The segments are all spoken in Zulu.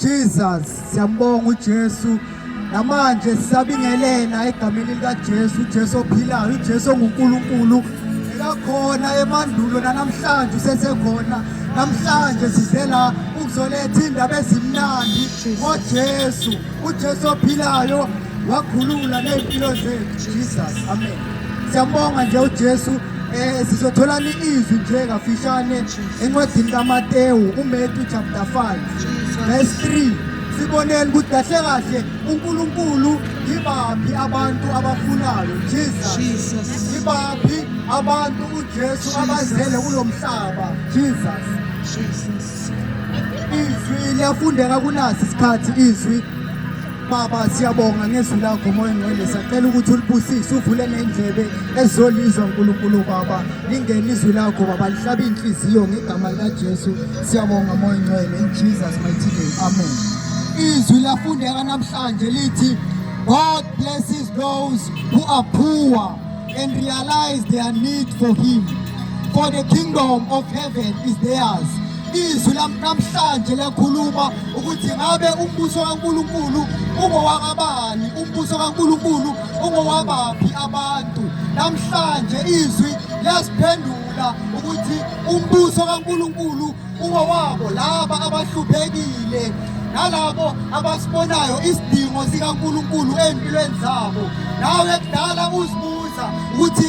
Jesus siyambonga uJesu namanje sisabingelela egameni likaJesu uJesu ophilayo uJesu onguNkulunkulu ekakhona emandulo nanamhlanje usesekhona namhlanje size la ukuzoletha indaba ezimnandi ngoJesu uJesu ophilayo wakhulula ney'mpilo zethu jesus amen siyambonga nje ujesu um sizotholani izwi nje kafishane encwadini kaMatewu uMetu chapter 5 verse 3 siboneni ukuthi kahle kahle uNkulunkulu yibaphi abantu abafunayo Jesus yibaphi abantu uJesu abazele kulo mhlaba Jesus izwi liyafundeka kunasi isikhathi izwi Baba siyabonga ngezwi lakho moya ngcwele sacela ukuthi ulibusise uvule nendlebe ezolizwa uNkulunkulu baba lingene izwi lakho baba lihlabe inhliziyo ngegama likaJesu siyabonga moya ngcwele in Jesus mighty name amen izwi lafundeka namhlanje lithi God blesses those who are poor and realize their need for him for the kingdom of heaven is theirs Izwi namhlanje liyakhuluma ukuthi ngabe umbuso kaNkulunkulu ungowakabani, umbuso kaNkulunkulu ungowabaphi abantu. Namhlanje izwi liyasiphendula ukuthi umbuso kaNkulunkulu ungowabo laba abahluphekile nalabo abasibonayo isidingo sikaNkulunkulu ezimpilweni zabo. Nawe kudala uzibuza ukuthi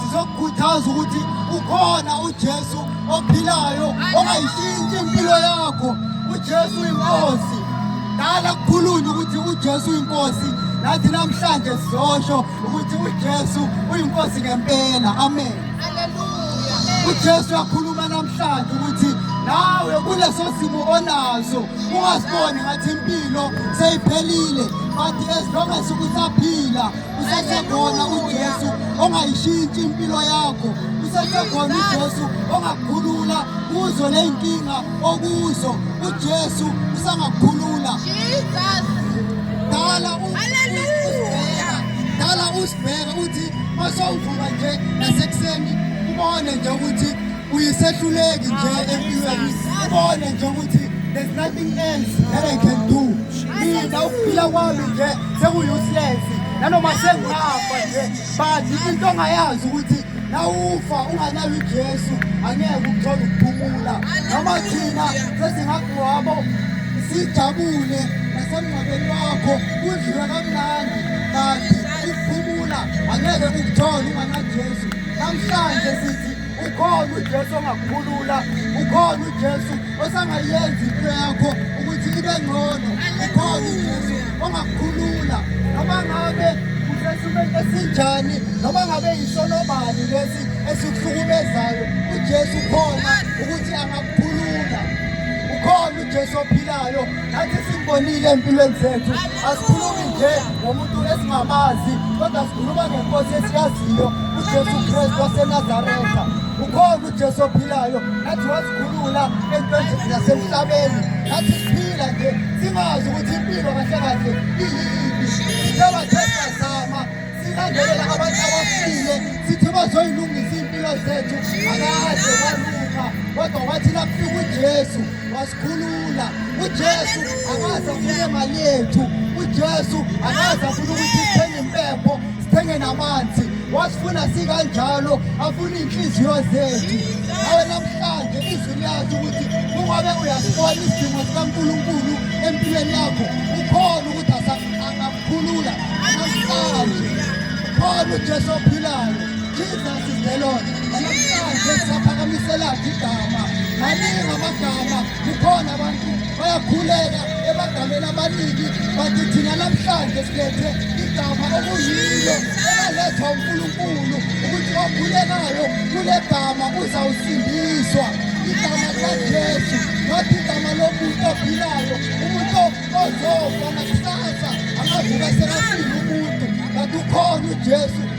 Sizokukhuthaza ukuthi ukhona uJesu ophilayo ongayishintsha impilo yakho. UJesu inkosi. Dala kukhulunywa ukuthi uJesu inkosi. Nathi namhlanje sizosho ukuthi uJesu uyinkosi ngempela. Amen. Hallelujah. UJesu uyakhuluma namhlanje ukuthi nawe kuleso simo onaso ungasiboni ngathi impilo seyiphelile but as long as ukuthi aphila usesekhona uJesu ongayishintshi impilo yakho usesekhona uJesu ongakukhulula kuzo ley'nkinga okuzo uJesu usangakukhulula dala dala usibheka uthi masowuvuma nje nasekuseni ubone nje ukuthi uyisehluleki nje empilweni ubone nje ukuthi there's nothing else that I can do mina ukuphila kwami nje seku-useless nanoma sengafa nje but into ongayazi ukuthi nawufa unganayo ujesu angeke ukuthola ukuphumula noma thina sesingagwabo sijabule nasemngcwabeni wakho kudliwa kamnandi kanti ukuphumula angeke ukuthole unganajesu namhlanje sithi ukhona uJesu ongakukhulula ukhona uJesu osangayenza into yakho ukuthi ibe ngcono ukhona uJesu ongakukhulula noma ngabe usesimeni esinjani noma ngabe yisonobani lesi esikuhlukumezayo uJesu ukhona ukuthi angakukhulula ukhona uJesu ophilayo Nathi sikubonile empilweni zethu asikhulumi nje ngomuntu esingamazi kodwa sikhuluma ngenkosi esiyaziyo uJesu Kristu waseNazaretha ukhona uJesu ophilayo nathi wasikhulula entweni zasemhlabeni nathi siphila nje singazi ukuthi impilo kahle kahle iyini sithoba thesazama silandelela abantu abafile sithi bazoyilungisa iy'mpilo zethu akaze kwalunga kodwa wathi nakufika uJesu wasikhulula uJesu akaze afune imali yethu uJesu akaze afune ukuthi sithenge impepho sithenge namanzi wasifuna sikanjalo afuna iy'nhliziyo zethu awe namhlanje izwi liyazi ukuthi kungabe uyasibona isidingo sikankulunkulu empilweni yakho ukhona ukuthi angakukhulula namhlanje khona ujesu ophilayo Jesus is the Lord. Namhlanje siyaphakamiselaphi igama. Maningi amagama kukhona abantu bayakhuleka ebagameni abaningi bathi thina namhlanje silethe igama okuyilo elalethwa uNkulunkulu ukuthi okhulekayo kule gama uzawusindiswa igama likaJesu ngathi igama lomuntu ophilayo umuntu ozofa nakusasa angavuka sekafile umuntu kanti ukhona uJesu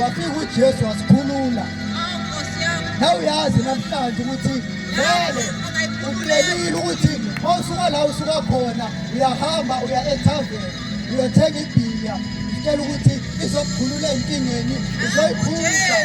Wafika uJesu wasikhulula. Na uyazi namhlanje ukuthi vele ukulelile ukuthi mawusuka la usuka khona uyahamba uya ethaveni uyothenga ibhiya utshela ukuthi izokukhulula enkingeni uzoyiphuza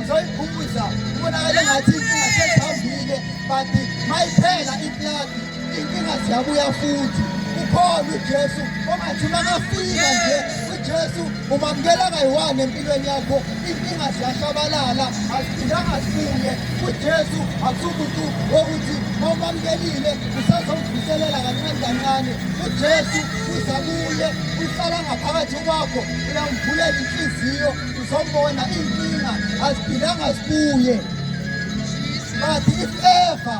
uzoyiphuza ubonakale ngathi inkinga sesihambile but mayiphela ipladi inkinga ziyabuya futhi ukhona uJesu ongathi makafika nje uJesu umamukela kayi-one empilweni yakho inkinga ziyashabalala aziphindanga zibuye uJesu akusumuntu wokuthi mawumamukelile usazomvuselela kancane kancane uJesu uza kuye uhlala ngaphakathi kwakho uyamvulela inhliziyo uzombona inkinga aziphindanga zibuye but if ever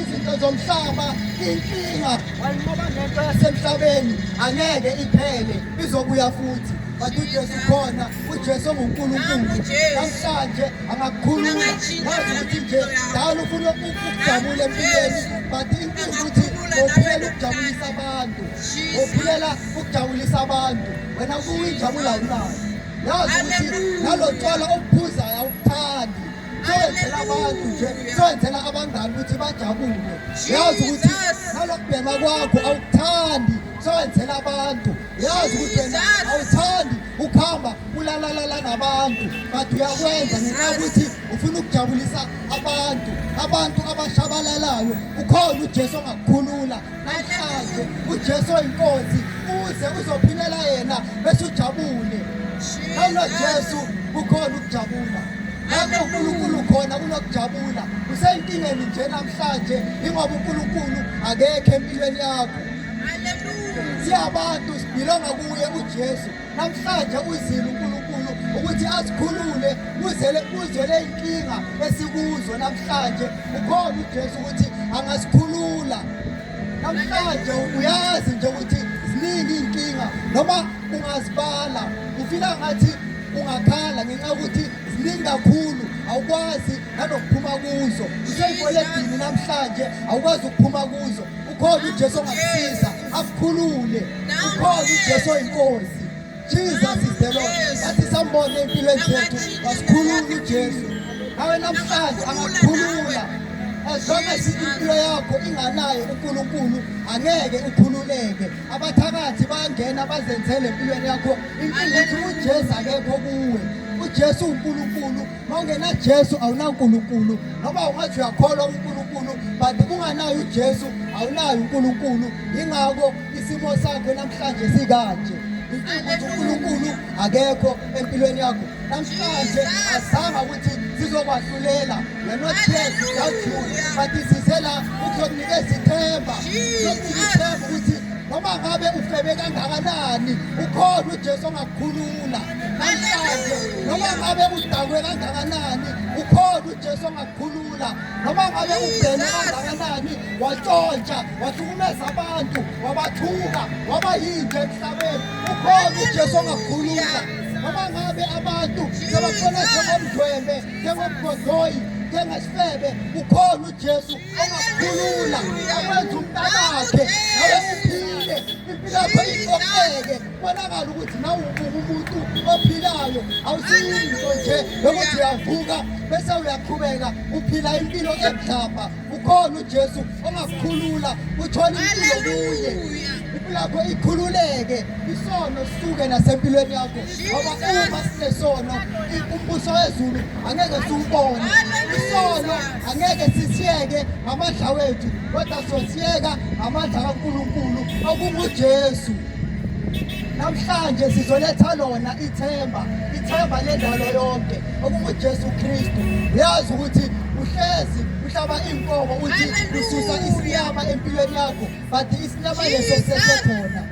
izinto zomhlaba inkinga ngoba nento yasemhlabeni angeke iphele izobuya futhi but uJesu khona uJesu onguNkulunkulu namhlanje angakukhulula wazi ukuthi nje dala ufuna ukujabula empilweni but inkinga ukuthi ngophilela ukujabulisa abantu ngophilela ukujabulisa abantu wena kuyinjabula unayo yazi ukuthi nalo tshwala obuphuzayo awubuthandi ayenzela abantu nje senzela abangani ukuthi bajabule yazi ukuthi nalokubhema kwakho awukuthandi sowenzela abantu yazi ukuthi wena awuthandi ukuhamba ulalalala nabantu but uyakwenza ngenxa yokuthi ufuna ukujabulisa abantu abantu abashabalalayo ukhona ujesu ongakukhulula Namhlanje uJesu oyinkosi uze uzophilela yena bese ujabule. Awulo Jesu kukhona ukujabula. Lapho uNkulunkulu khona kunokujabula. Usenkingeni nje namhlanje ingoba uNkulunkulu akekho empilweni yakho. Haleluya. Siyabantu sibhilonga kuye uJesu. namhlanje uzile uNkulunkulu ukuthi asikhulule kuzele kuzele inkinga esikuzo namhlanje ukhona uJesu ukuthi angasikhulula namhlanje uyazi nje ukuthi ziningi inkinga noma ungazibala ufika ngathi ungakhala ngenxa ukuthi ziningi kakhulu awukwazi nanokuphuma kuzo useyiboledini namhlanje awukwazi ukuphuma kuzo ukhona uJesu ongakusiza akukhulule ukhona uJesu oyinkosi Jesus is the Lord athi sambone empilweni zethu wasikhulula uJesu awe namhlanje angakukhulula as long as impilo yakho inganaye uNkulunkulu angeke ukhululeke abathakathi bayangena bazenzele empilweni yakho impilo ukuthi uJesu akekho kuwe uJesu uNkulunkulu Mawungena Jesu awunaNkulunkulu noma ungathi uyakholwa uNkulunkulu but kunganayo uJesu awunayo uNkulunkulu ingakho isimo sakho namhlanje sikanje ukuthi uNkulunkulu akekho empilweni yakho namhlanje azama ukuthi sizokwahlulela we're not here to doubt you but size la ukuzokunikeza ithemba ukuzokunika ithemba ukuthi noma ngabe ufebe kangakanani ukhona uJesu ongakukhulula noma ngabe udakwe kangakanani ukhona ujesu ongakukhulula noma ngabe ubhene kangakanani watshontsha wahlukumeza abantu wabathuka waba yinto emhlabeni ukhona ujesu ongakukhulula noma ngabe abantu sebafona njengomdwembe njengomgodoyi njengesifebe ukhona ujesu ongakukhulula akwenza umntanakhe nawe uphile impilo yakho iqoqeke kubonakala ukuthi nawe umuntu ophilayo awusiyinto nje yokuthi uyavuka bese uyaqhubeka uphila impilo emhlaba ukhona ujesu ongakukhulula uthole impilo kuye impilakho ikhululeke isono sisuke nasempilweni yakho ngoba uma sinesono umbuso wezulu angeke siwubone isono angeke sisiyeke ngamadla wethu kodwa sosiyeka ngamandla kankulunkulu okungujesu namhlanje sizoletha lona ithemba ithemba lendalo yonke okunguJesu Kristu uyazi ukuthi uhlezi uhlaba inkomo uthi ususa isinyama empilweni yakho but isinyama leso sesekhona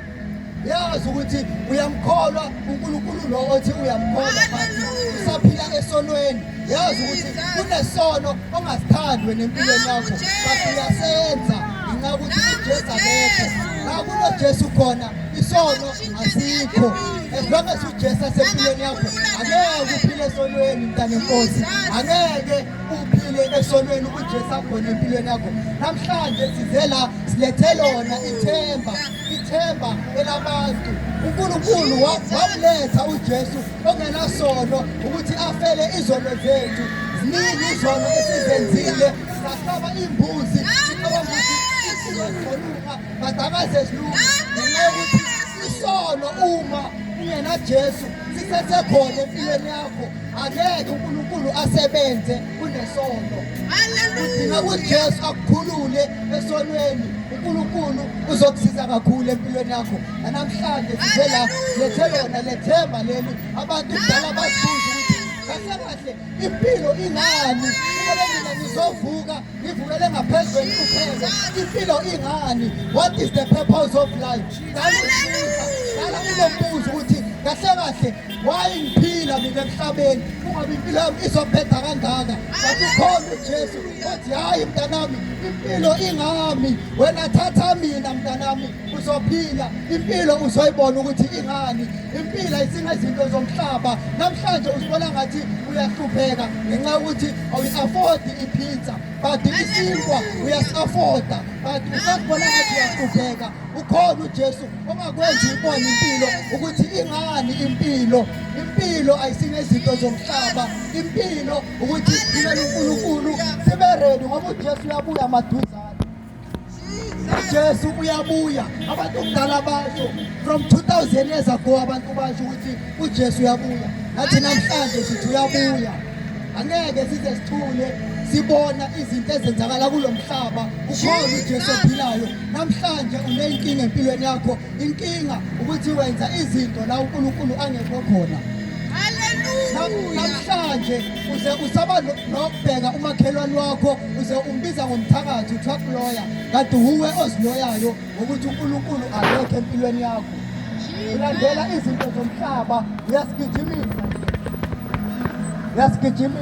yazi ukuthi uyamkholwa uNkulunkulu lo othi uyamkholwa but usaphila esonweni yazi ukuthi kunesono ongasithandwe nempilweni yakho but uyasenza ngenxa ukuthi uJesu akekho la kunoJesu khona isono asikho as long as uJesu asempilweni yakho angeke uphile esonweni mntana enkosi angeke uphile esonweni uJesu akhona empilweni yakho namhlanje size la silethe lona ithemba ithemba elabantu uNkulunkulu wamuletha uJesu ongenasono ukuthi afele izono zethu ziningi izono esizenzile sahlaba imbuzi sicabanga ukuthi isizoluka badakaze zilunga ngenxa yokuthi isono uma kuyena Jesu sithethe khona empilweni yakho angeke uNkulunkulu asebenze kunesono udinga kuJesu akukhulule esonweni uNkulunkulu uzokusiza kakhulu empilweni yakho Namhlanje size la lethe lona lethemba leli abantu kudala bazibuze ukuthi kahle kahle impilo ingani ngoba mina ngizovuka ngivukele ngaphezu kwenhlupheko impilo ingani what is the purpose of life ngalibuza ngala kulo mbuzo ukuthi kahle kahle why ngiphila mina emhlabeni kungabe impilo yami izophetha kangaka kanti ukhona ujesu othi hhayi mntanami impilo ingami wena thatha mina mntanami uzophila impilo uzoyibona ukuthi ingani impilo ayisingezinto zomhlaba namhlanje uzibona ngathi uyahlupheka ngenxa yokuthi awuyi-afodi ipizza but isinkwa uyasi-afoda but usazibona ngathi uyahlupheka ukhona ujesu ongakwenza uyibone impilo ukuthi ingani impilo impilo ayisingezinto zomhlaba impilo ukuthi ibe unkulunkulu sibe redi ngoba ujesu uyabuya maduzane Jesu uyabuya abantu kudala basho from 2000 years ago abantu basho ukuthi uJesu uyabuya nathi namhlanje sithi uyabuya angeke size sithule sibona izinto ezenzakala kulomhlaba ukhona uJesu ophilayo namhlanje uneyinkinga empilweni yakho inkinga ukuthi wenza izinto la uNkulunkulu angekho khona haleluya namhlanje uze usaba nokubheka umakhelwane wakho uze umbiza ngomthakathi uthiwa kuloya kanti wuwe oziloyayo ngokuthi unkulunkulu alokho empilweni yakho ulandela izinto zomhlaba uyasigijimisa uyasigijimisa